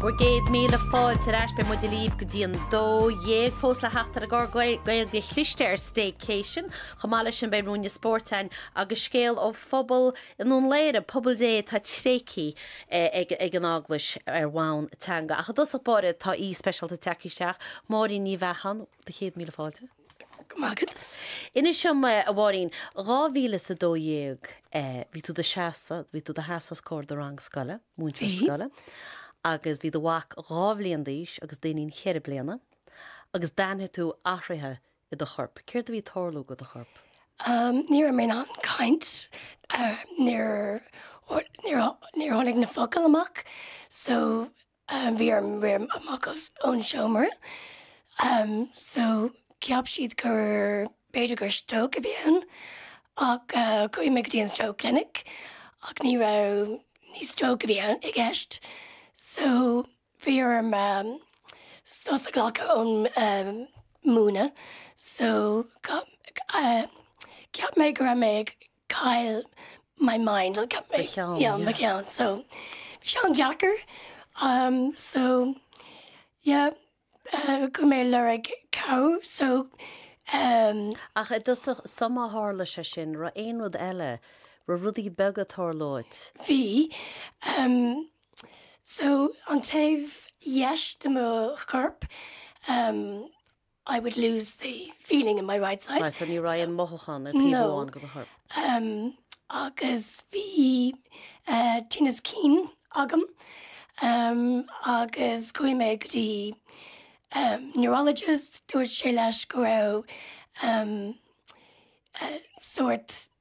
Bhur gcéad míle fáilte ar ais, beidh muid libh go dtí an 12:00 fós le theacht an gcuirfidh Gaeilge chliste ar Staycation. Chomh maith leis sin beidh Rún an Spóirt ann agus scéal ó phobal i nDún Laoghaire, pobal Dé atá tréigthe ag an Eaglais ar bhonn teanga. Ach i dtosach báire tá aoi speisialta ag teacht isteach. Máirín Ní Bheacháin, do chéad míle fáilte. Go raibh maith agat. Inis dom, a Mháirín, dhá mhíle is a dó dhéag, bhí tú i do seasadh, bhí tú i do sheasadh os comhair do rang scoile, múinteoir scoile, agus bhí do mhac dhá bhliain d'aois agus d'iníon cheithre bliana, agus d'airigh tú athruithe i do chorp. Céard a bhí ag tarlú dho do chorp? Ní raibh mé in ann caint, níor, níor, níor tháinig na focail amach, so, Bhí orm rith amach as an seomra so cheap siad gur, b'fhéidir gur stróc a bhí ann ach chuaigh mé go dtí an stroke clinic ach ní raibh, ní stróc a bhí i gceist. So bhí orm sos a ghlacadh ón múineadh so cheap mé go raibh mé ag. cailleadh my mind, cailleadh do cheann yeah mo cheann so bhí sé an-deacair um so yeah uh, bhí mé ag lorg cabhair so um Ach i dtosach sular tharla sé sin an raibh aon rud eile an raibh rudaí beaga ag tarlú dhuit. bhí um so an taobh dheis de mo chorp um I would lose the feeling in my right side. Right, so ní raibh an mothúchán ar taobh amháin dho do chorp. Um, agus bhí uh, tinneas cinn agam um, agus chuaigh mé go dtí um, neurologist, dúirt sé leis go raibh um, uh, sort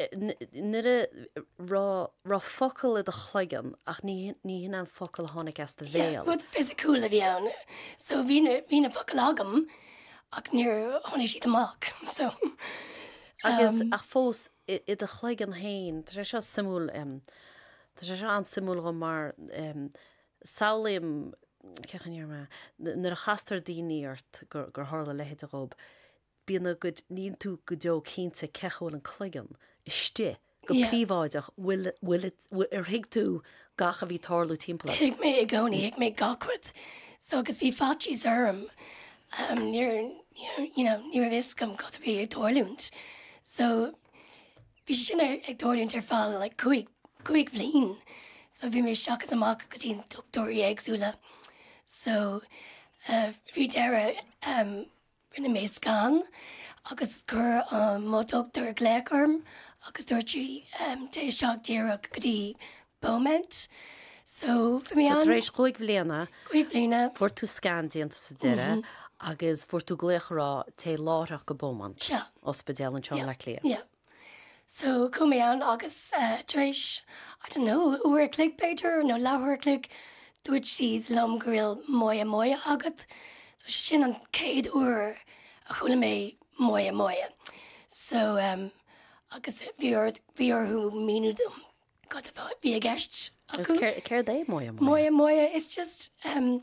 An é go raibh focal i do chloigeann ach ní hin an focal a tháinig as do bhéal. Yeah, rud fisiciúil a bhí ann. So bhí na focail agam ach níor tháinig siad amach. So, Agus, ach fós, i do chloigeann féin, tá sé seo suimiúil, tá sé seo an-suimiúil dhom mar samhlaím, cén chaoi a ndéarfaidh mé, nuair a chastar daoine ort gur tharla a leithéid dhóibh, Bíonn a gcuid, níl tú go deo cinnte cén chaoi a bhfuil an cloigeann istigh, go príobháideach, bhfuil, bhfuil, ar thuig tú gach a bhí ag tarlú timpeall ort? Thuig mé i gcónaí, thuig mé gach rud. So agus bhí faitíos orm, níor, you know, ní raibh fhios agam cad a bhí ag tarlúint. So bhí sé sin ag tarlúint ar feadh like cúig, cúig bhliain. So bhí mé isteach is amach go dtí na dochtúirí éagsúla. So faoi deireadh, Rinne mé scan agus chuir mo dhochtúir glaoch orm agus dúirt sí, téigh isteach díreach go dtí Beaumont. So bhí mé ann. So tar éis cúig bliana. Cúig bliana. Fuair tú scan déanta sa deireadh agus fuair tú glaoch a rá, téigh láithreach go Beaumont. Sea. Ospidéal anseo i mBleá Cliath. Yeah. So chuaigh mé ann agus tar éis, I don't know, uair a chloig b'fhéidir nó leathuair a chloig, dúirt siad liom go bhfuil moya moya agat. So sin an chéad uair a chuala mé moya moya. So em agus bhí orthu, bhí orthu míniú dom cad a bhí i gceist. Agus céard é moya moya? Moya moya is just um,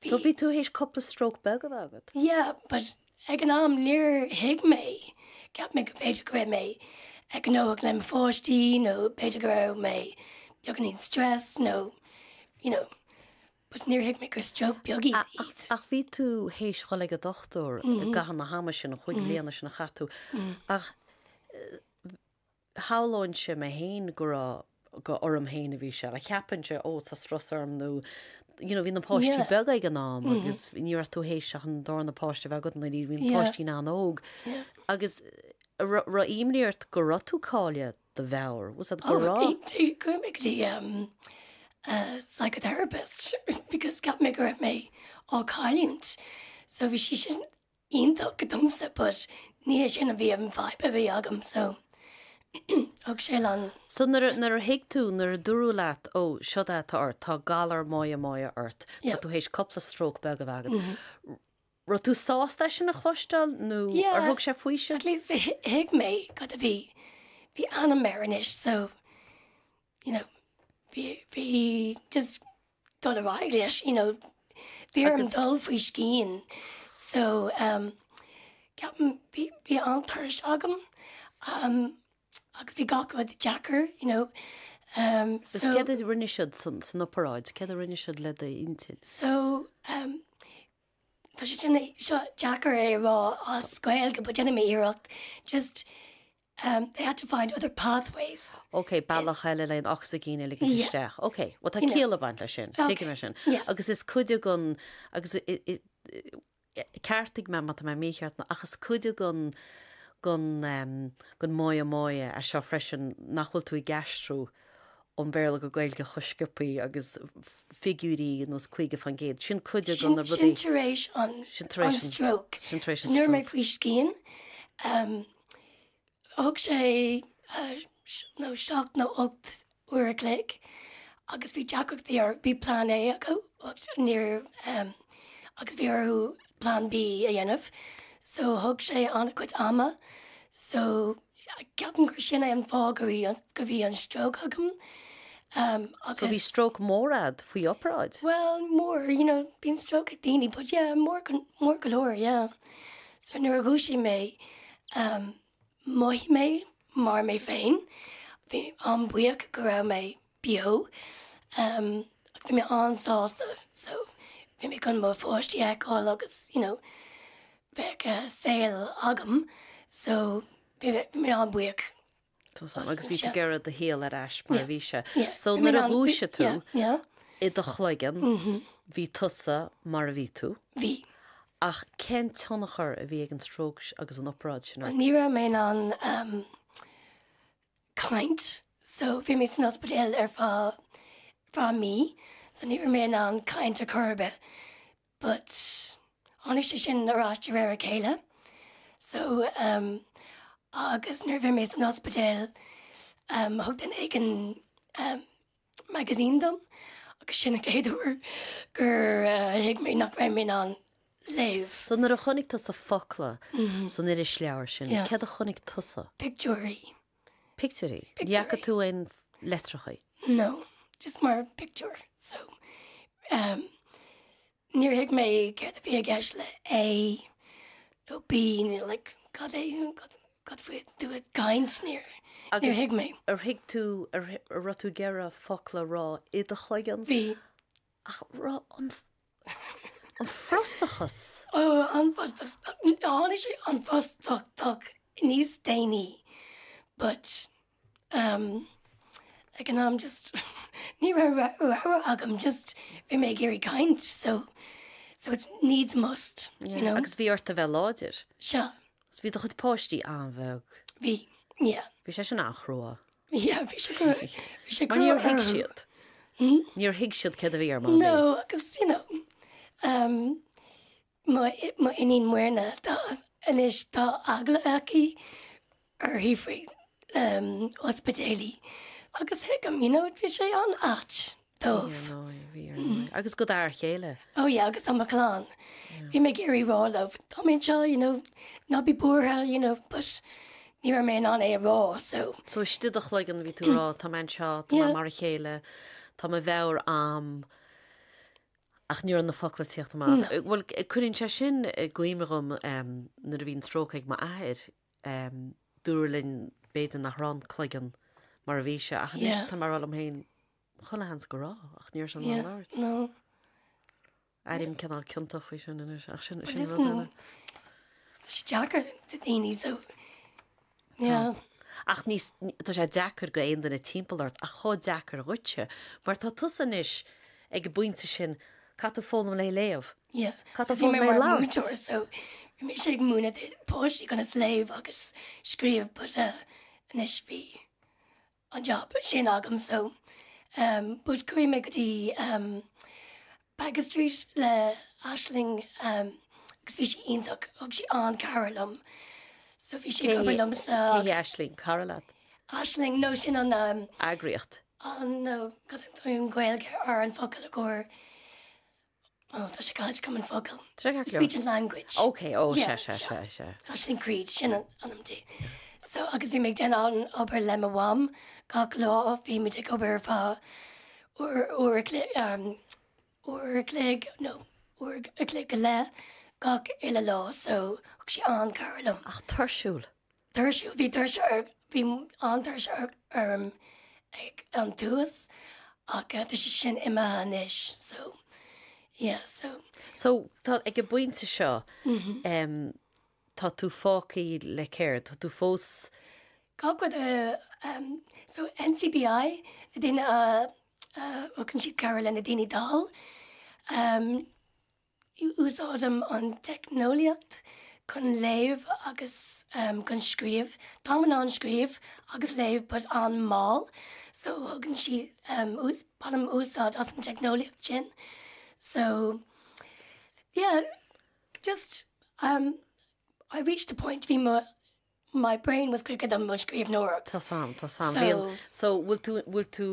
Bhí. So bhí tú théis cúpla stroke beag a bheith agat? Yeah, but ag an am níor thuig mé, cheap mé go b'fhéidir go raibh mé ró-ghnóthach le mo pháistí nó b'fhéidir go raibh mé beagáinín stressed nó you know, but níor thuig mé gur stroke beag iad. Ach, ach, ach bhí tú théis dhul ag an dochtúir i gcaitheamh na hama sin, na cúig bliana sin a chaith tú, ach shamhlóinnse mé féin go raibh, go orm féin a bhí sé, like cheapfainnse, oh tá strus orm nó, you know, bhí na páistí beaga ag an am agus ní raibh tú théis ach an darna páiste a bheith agat anoirí, bhí na páistí an-óg agus raibh, raibh imní ort go raibh tú ag cailleadh do mheabhair, was that, go raibh. oh, bhí, chuaigh mé go dtí um a psychotherapist because cheap mé go raibh mé á cailliúint so bhí sí sin iontach domsa but ní hé sin, bhí an fadhb a bhí agam so chuidigh sí liom. So nuair a, nuair a thuig tú, nuair a dúradh leat ó seo é atá ort, tá galar moya moya ort, tá tú théis cúpla stróc beag a bheith agat, raibh tú sásta é sin a chloisteáil nó ar thug sé faoiseamh? At least thuig mé cad a bhí, bhí ainm air anois so, you know, bhí just dul ar aghaidh leis, you know, bhí orm dul faoi scian so um ceapaim bhí bhí an-tuirse agam um agus bhí gach rud deacair, you know, um so. Agus céard a rinne siad san san operáid? Céard a rinne siad le d'inchinn? So um tá sé seo deacair a rá as Gaeilge but déanfaidh mé iarracht just they had to find other pathways. OK, bealach eile le an ocsaigin a ligint isteach. OK, bhuel tá ciall ag baint leis sin, tuigim é sin. Agus is cuid dhen, agus ceartaigh mé má tá mé mícheart, ach is cuid dhen moya moya é seo freisin nach bhfuil tú ag aistriú ón Bhéarla go Gaeilge chomh scioptha agus figiúirí nós 50%. Sin cuid dhe na rudaí. Sin tar éis an stroke. Sin tar éis an stroke. Nuair mé faoi scian, Thug sé nó seacht nó ocht uair a chloig agus bhí deacrachtaí orthu, bhí plean A acu agus bhí orthu plean B a dhéanamh so thug sé an-chuid ama. So ceapaim gur sin é an fáth go bhí an stróc agam. So bhí stróc mór ad faoi opráid? Well mór, you know, bíon stróc ag daoine, but yeah, mór go leor, yeah. So nuair a dhúisigh mé, mhothaigh mé mar mé féin. Bhí mé an-buíoch go raibh mé beo. Ach bhí mé an-sásta. So bhí mé chun mo pháistí a fheiceáil agus you know bheadh saol agam. So bhí mé an-buíoch. Agus bhí tú ag iarraidh do shaol ar ais mar a bhí sé. So nuair a dhúisigh tú i do chloigeann, bhí tusa mar a bhí tú? Bhí. Ach cén tionchar a bhí ag an stróc agus an opráid sin ort? Ní raibh mé in ann caint. So bhí mé san ospidéal ar feadh mí, so ní raibh mé in ann caint ar chor ar bith. but tháinig sé sin ar ais de réir a chéile so um agus nuair a bhí mé san ospidéal um thug duine éigin um magazine dom agus sin an chéad uair gur uh, thuig mé nach raibh mé in ann léamh. So nuair a chonaic tusa focla san irisleabhar sin, Yeah. céard a chonaic tusa. Pictiúirí. Pictiúirí? Ní fhaca tú aon leitreachaí? No, just mar pictiúr. So, ehm, níor thuig mé céard a bhí i gceist le A nó B nó like cad é, cad, cad faoi tú ag caint, níor, níor thuig mé. Ar thuig tú, ar, ar raibh tú ag iarraidh focla a rá i do chloigeann? Bhí. Ach raibh an An frustachas. Ó, an frustachas. Tháinig sé, an frustachas, níos déanaí. But, um, ag an am, just, ní raibh rogha agam, just, bhí mé ag iarraidh caint, so, so it's needs must, you know. Agus bhí ort a bheith láidir. Seo. Bhí do chuid páistí an-bheag. Bhí, yeah. Bhí sé sin an-chrua. Yeah, bhí sé go- bhí sé Mar go- níor thuig siad. Níor thuig siad céard a bhí ar Mamaí. No, agus, you know, um, mo i- mo iníon Muirne, tá, anois, tá eagla aici uirthi faoi, um, ospidéalaí, agus thuigim, you know, bhí sé an-ait, dóibh. Bhí ar ndóigh, bhí ar ndóigh. Agus go d'fhear céile. Ó yeah, agus do mo chlann. Bhí mé ag iarraidh rá leo, tá mé anseo, you know, ná bí buartha, you know, but ní raibh mé in ann é a rá, so. So istigh i do chloigeann bhí tú ag rá, tá mé anseo, tá mé mar a chéile, tá mo mheabhair a'm, ach ní raibh na focla ag tíocht amach. Bhuel, cuireann sé sin i gcuimhne dhom nuair a bhí an stróc ag m'athair, Dúradh linn b'fhéidir nach raibh an cloigeann mar a bhí sé ach anois tá mé ag rá liom féin, chuile sheans go raibh ach níor 's in ann labhairt. Airím cineál ciontach faoi sin anois ach sin sin rud eile. Tá sé deacair le daoine so yeah. Ach ní hé tá sé deacair do aon duine timpeall ort ach chomh deacair dhuitse mar tá tusa anois ag an bpointe sin caithfidh tú foghlaim le léamh? Caithfidh tú foghlaim le labhairt. Bhí mise ag múineadh páistí conas léamh agus scríobh but anois bhí an jab sin agam so but chuaigh mé go dtí Baggot Street le Aisling agus bhí sí iontach ag, sí ag cabhrú liom so bhí sé go liomsa Aisling cara leat? Aisling nó sin an um, eagraíocht. An nó cén Ghaeilge ar an focal i gcomhair. Well, tá sé caite agam an focal. Sé caite liom. Speech and language. Ok, ó, sé, sé, sé, sé. Aisling Creed, sin an ainm di. So, agus bhí mé ag déanamh an obair le mo mham gach lá, bhí muid ag obair ar feadh uair, uair a chlé, uair a chloig, no, uair a chloig go leith gach uile lá, so thug sí an-chabhair liom. Ach tuirsiúil. Tuirsiúil, bhí tuirse orm, bhí an-tuirse orm ag an tús ach tá sé sin imithe anois so yeah so. So tá ag an bpointe seo um tá tú fágtha le céard, tá tú fós Cá go um so NCBI daoine a a thugann siad cabhair lena daoine dall um. Úsáidim an teicneolaíocht chun léamh agus chun scríobh. Táim in ann scríobh agus léamh but an-mall so thugann sí, bainim úsáid as an teicneolaíocht sin so yeah just I reached a point, bhí mo My brain was quicker than mo scríbhneoireacht. Tá's agam, tá's agam. So. Bhíonn, so, bhfuil tú, bhfuil tú,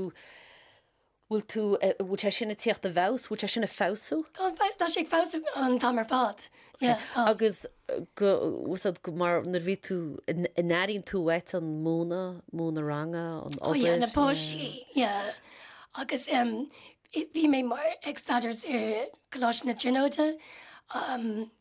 bhfuil tú, eh, bhfuil sé sin ag teacht i bhfeabhas? Bhfuil sé sin ag feabhsú? Tá an feabhas, tá sé ag feabhsú an t-am ar fad. Yeah, tá. Agus go, uasad, go mar nuair a bhí tú, a n-airíonn tú uait an múineadh, múineadh ranga, an obair? Oh yeah, na páistí, yeah. Agus, em, bhí mé mar ag staidéar ar Choláiste na Tríonóide, em.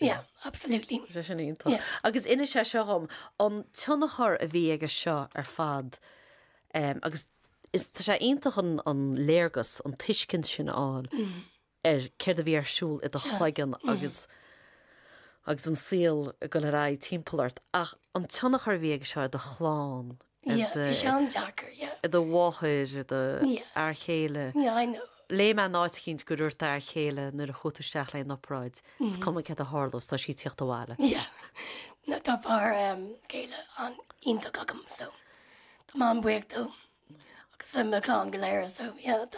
Yeah, absolutely. Sé sin iontach. Yeah. Agus inis é seo dhom, an tionchar a bhí aige seo ar fad, um, agus is tá sé iontach an, an léargas, an tuiscint sin a fháil mm. ar céard a bhí ar siúl i do chloigeann mm. agus agus an saol go léir timpeall ort ach an tionchar bhí aige seo do chlann i do mháthair, i do fhear chéile. Léigh mé in áit éicint go ndúirt d'fhear chéile nuair a chuaigh tú isteach leis an obráid, is cuma céard a tharlós, tá sí ag teacht abhaile. Tá fear céile an-iontach agam, so tá mé an-bhuíoch dó agus le mo chlann go léir.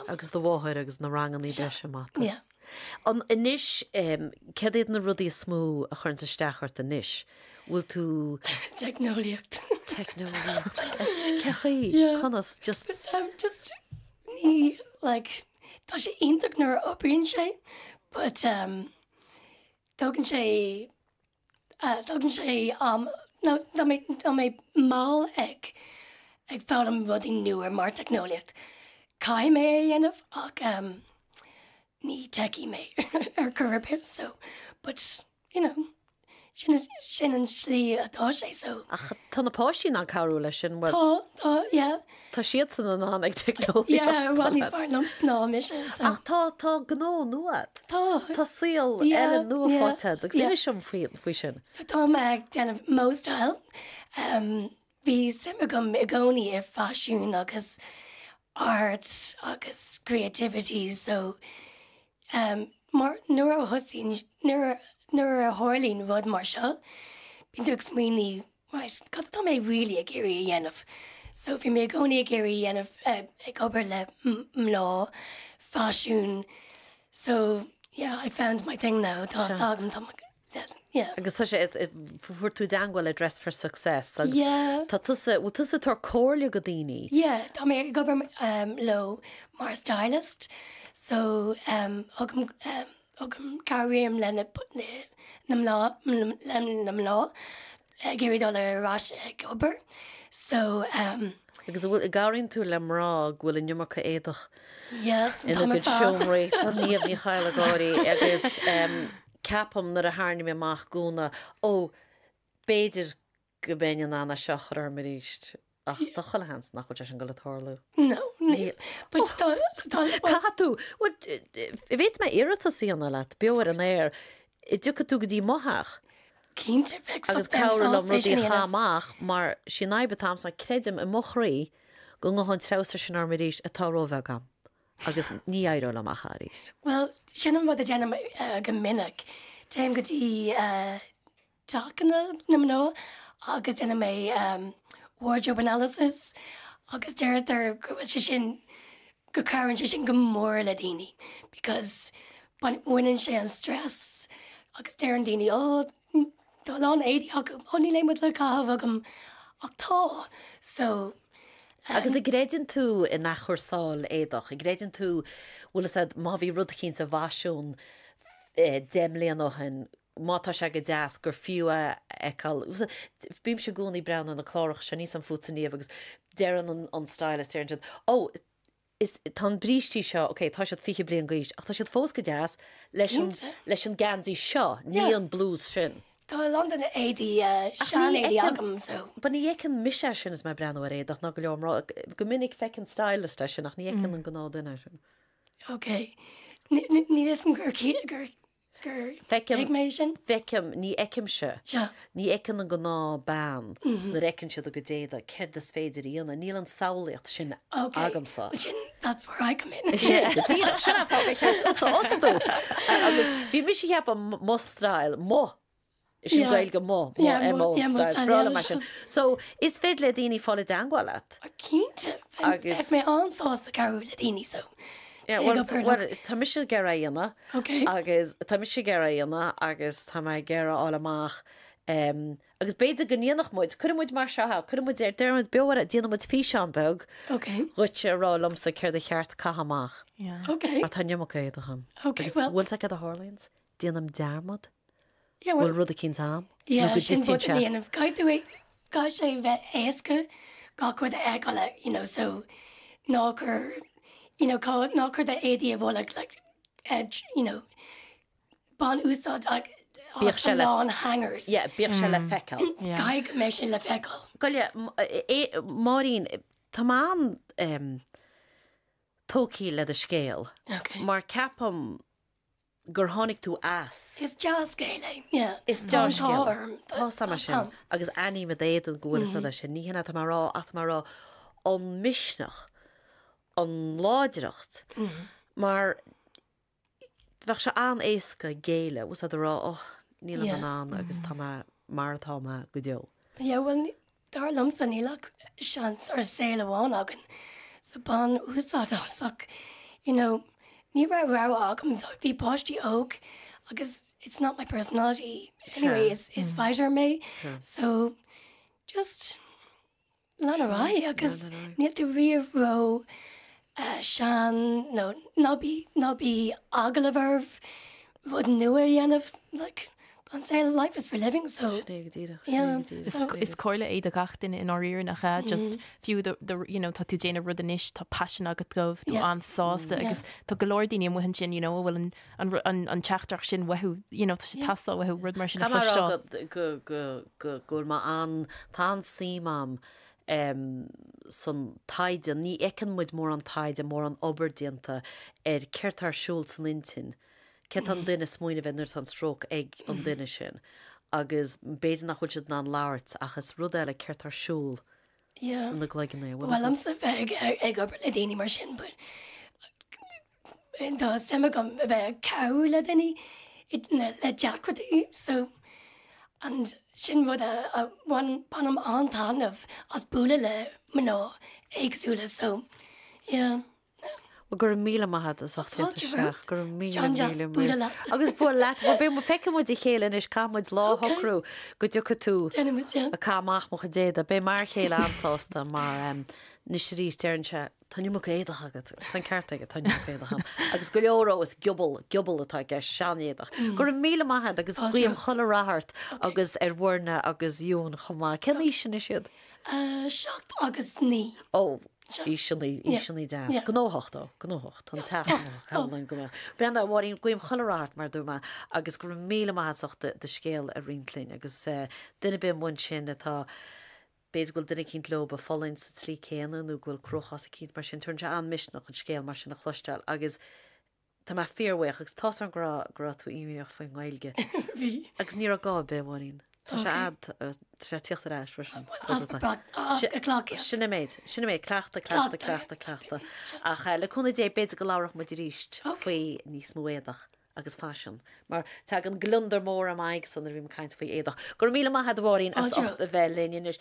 Agus de do mháthair agus na ranganna breise maith. An anois, cad iad na rudaí is mó a chuireann isteach ort anois? Bhfuil tú. Teicneolaíocht. Teicneolaíocht. Cé chaoi? Yeah. Conas? Just. Just, um, just, níl, like, tá sé iontach nuair a oibríonn sé, but, um, tógann sé Tógann sé am tá mé mall ag foghlaim rudaí nua mar teicneolaíocht. Caithfidh mé é a dhéanamh ach ní techie mé ar chor ar bith so but you know sin an slí atá sé so. Ach tá na páistí in ann cabhrú leis sin, an bhfuil? Tá, tá, yeah. Tá siadsan an-mhaith ag teicneolaíocht. Sea, i bhfad níos fearr ná mise, so. Ach tá, tá gnó nua a'd. Tá. Tá slí eile nua faighte a'd agus inis dom faoi, faoi sin. So tá mé ag déanamh móstáil. Bhí suim agam i gcónaí i bhfaisean agus art agus creativity, so mar, nuair a thosaíonn, nuair a, nuair a tharlaíonn rud mar seo, bíonn tú ag smaoineamh Right, cad atá mé really ag iarraidh a dhéanamh? So bhí mé i gcónaí ag iarraidh a dhéanamh, ag obair le mná, faisean, so yeah, I found my thing now, tá a fhios agam, tá mo, yeah. Agus tá sé, fuair tú i dteagmháil le Dress for Success agus tá tusa, bhfuil tusa ag tabhairt comhairle do dhaoine? Yeah, tá mé ag obair leo mar stylist, so thug, cabhraím leis na mná atá ag iarraidh dul ar ais ag obair. So, um. Agus an bhfuil, an gcabhraíonn tú le mná go bhfuil an iomarca éadach ina gcuid seomraí, tá Niamh Ní Chadhla ag gáirí agus, um, ceapaim nuair a tharraingím amach gúna, oh, b'fhéidir go mbeinn in ann é seo a chur orm arís. Ach tá chuile sheans nach bhfuil sé sin goil a tarlú. No, níl. But do, do, do. Caithfidh tú, an bhféadfaidh mé iarratas a dhéanamh leat, beo ar an aer, an dtiocfaidh tú go dtí mo theach. Cinnte, bheinn sásta é sin a dhéanamh. Agus cabhrú liom rudaí a chaitheamh amach, mar sin an fhadhb atá a'msa, creidim, i mo chroí, go ngabhfaidh an treabhsar sin orm arís, atá róbheag a'm, agus ní éireoidh liom choíche arís. Bhuel, sin an rud a dhéanaim go minic. Téim go dtí, eh, tacanna na mná agus déanann mé wardrobe analysis agus deirtear go bhfuil sé sin, go gcabhraíonn sé sin go mór le daoine because baineann sé an stress agus deireann daoine ó tá a lán éadaí agam, ó níl aon rud le caitheamh agam ach tá so. Agus an gcreideann tú in athchúrsáil éadach, an gcreideann tú, bhuel is ea má bhí rud eicínt i bhfasiún deich mbliana ó shin, má tá sé go deas, gur fiú é a fheiceáil. Bímse i gcónaí ag breathnú ar na cláracha seo, ní fhaca tusa ariamh agus deireann an stylist, ó, is, tá an brístí seo, ok, tá siad fiche bliain d'aois, ach tá siad fós go deas, leis an, leis an geansaí seo, nó an blús sin. Tá a lán de na éadaí, sean-éadaí agam, so. But ní fheiceann mise é sin is mé ag breathnú ar éadach ná go leor mná, go minic feiceann stylist é sin ach ní fheiceann an gnáthdhuine é sin. Ok, níl a fhios a'm gur, gur. Feicim, feicim, ní fheicimse. Ní fheiceann an gnáthbhean nuair a fheiceann siad a gcuid éadaigh céard is féidir a dhéanamh. Níl an samhlaíocht sin agamsa. That's where I come in. Díreach sin an fáth gur cheart tusa a fhostú. Agus bhí mise ag ceapadh mo stíl, mo. Is sin Gaeilge mo, mo, MO styles. Breá liom mar sin. So, is féidir le daoine a fháil i dteangmháil leat? Cinnte. Bheadh mé an-sásta cabhrú le daoine, so téigh go Purdue. Well, tá mise ag iarraidh é a dhéanamh agus tá mise ag iarraidh é a dhéanamh agus tá mé ag iarraidh a fháil amach agus b'fhéidir go ndéanfadh muid, cuirfidh muid mar seo, cuirfidh muid ar, deireann muid beo ar, déanfaidh muid físeán beag dhuitse ag rá liomsa céard ba cheart a chaitheamh amach. Mar tá an iomarca éadach a'm. Bhfuil tú ag cead a Harleyan's? Déanaim dearmad go bhfuil rud eicínt a'm nó go dtitfidh sé. Caithfidh tú é, caithfidh sé a bheith éasca gach rud a fheiceáil é, you know, so ná cuir, you know, cá, ná cuir d'éadaí i bhfolach, like, you know, bain úsáid as do lán hangers. Yeah, bíodh sé le feiceáil. Caithfidh go mbeidh sé le feiceáil. Gabh i leith, Máirín, tá mé an-tógtha le do scéal mar ceapaim gur tháinig tú as. Is dea-scéal é. Yeah. Is dea-scéal. Tá orm. Tá a fhios a'm é sin agus aithním ar d'éadan go bhfuil a fhios a'd é sin. Ní hin atá mé a rá ach tá mé a rá an misneach, an láidreacht mar a bheadh sé an-éasca géilleadh agus a rá oh níl mé in ann agus tá mé mar atá mé go deo. Yeah, well, Dar liomsa níl ach seans ar saol amháin againn so bain úsáid as ach you know ní raibh rogha agam though bhí páistí óg agus it's not my personality anyway is is fighter mé so just lean ar aghaidh agus níl tú riamh ró sean nó ná bí ná bíodh eagla ort rud nua a dhéanamh like an saol life is for living so Sin é go díreach, sin é go díreach, sin é go Is díreach. comhairle é do gach duine i ndáiríre nach ea just fiú do do you know tá tú ag déanamh rud anois tá paisean agat dhó tá tú Yeah. an-sásta Yeah. agus tá go leor daoine amuigh ansin you know a bhfuil an an ru- an an teachtaireacht sin uathu you know tá sé Yeah. ag teastáil uathu rud mar sin a chloisteáil. go go go go go bhfuil má an tá an-suim agam em san taighde ní fheiceann muid mórán taighde mórán obair déanta ar céard atá ar siúl san intinn céard atá an duine ag smaoineamh b'fhéidir nuair atá an stróc ag an duine sin agus b'fhéidir nach bhfuil siad in ann labhairt ach is rud eile céard atá ar siúl yeah ina gcloigeann é bhfuil well am sa bheith ag obair le daoine mar sin but Tá suim agam a bheith ag cabhrú le daoine le deacrachtaí so sin rud a bhainim an-taitneamh as bualadh le mná éagsúla so yeah. Bhuel go raibh míle maith agat as ucht a theacht isteach. Go raibh míle míle míle maith. Agus bualadh leat. Bhuel beidh muid feicfidh muid a chéile anois caithfidh muid lá a shocrú go dtiocfaidh tú ag caitheamh amach mo chuid éadaí. Beidh m'fhear chéile an-sásta mar i gcónaí deireann sé Tá an iomarca éadaí agat. Is tá an ceart aige, tá an iomarca éadaí ann. Agus go leor dhó, is giobal, giobal atá i gceist, seanéadach. Go raibh míle maith a'd agus guím chuile rath ort agus ar Mhuirne agus June chomh maith. Cén aois anois iad? 7 agus 9. Ó, aoiseanna, aoiseanna deas. Gnóthach ó, gnóthach. Tá an teach gnóthach, cha bhfuil aon gá. Brenna, a Mháirín, guím chuile rath ort, mar a dúirt mé, agus go raibh míle maith a'd as ucht do scéal a roinnt linn agus duine ar bith amuigh ansin atá, B'fhéidir go bhfuil duine eicínt leob a' fulaingt sa tslí céanna nó go bhfuil cruachás eicínt mar sin. Tugann sé an-mhisneach an scéal mar sin a chloisteáil agus tá mé fíorbhuíoch agus tá's a'm go raibh, go raibh tú imníoch faoin nGaeilge. Bhí. Agus ní raibh gá ar bith, a Mháirín. Tá sé a' sé tíocht ar ais freisin. As go brat, as go clock. Sin é an méid, sin é an méid, cleachtadh, cleachtadh, cleachtadh, cleachtadh. Ach le cúnamh Dé b'fhéidir go labhróidh muid aríst faoi níos mó éadach. agus faisean, mar tagann gliondar mór ar m'aghaidhsa nuair a bhím ag caint faoi éadach. Go raibh míle maith a'd, a Mháirín, as ucht a bheith linn anois.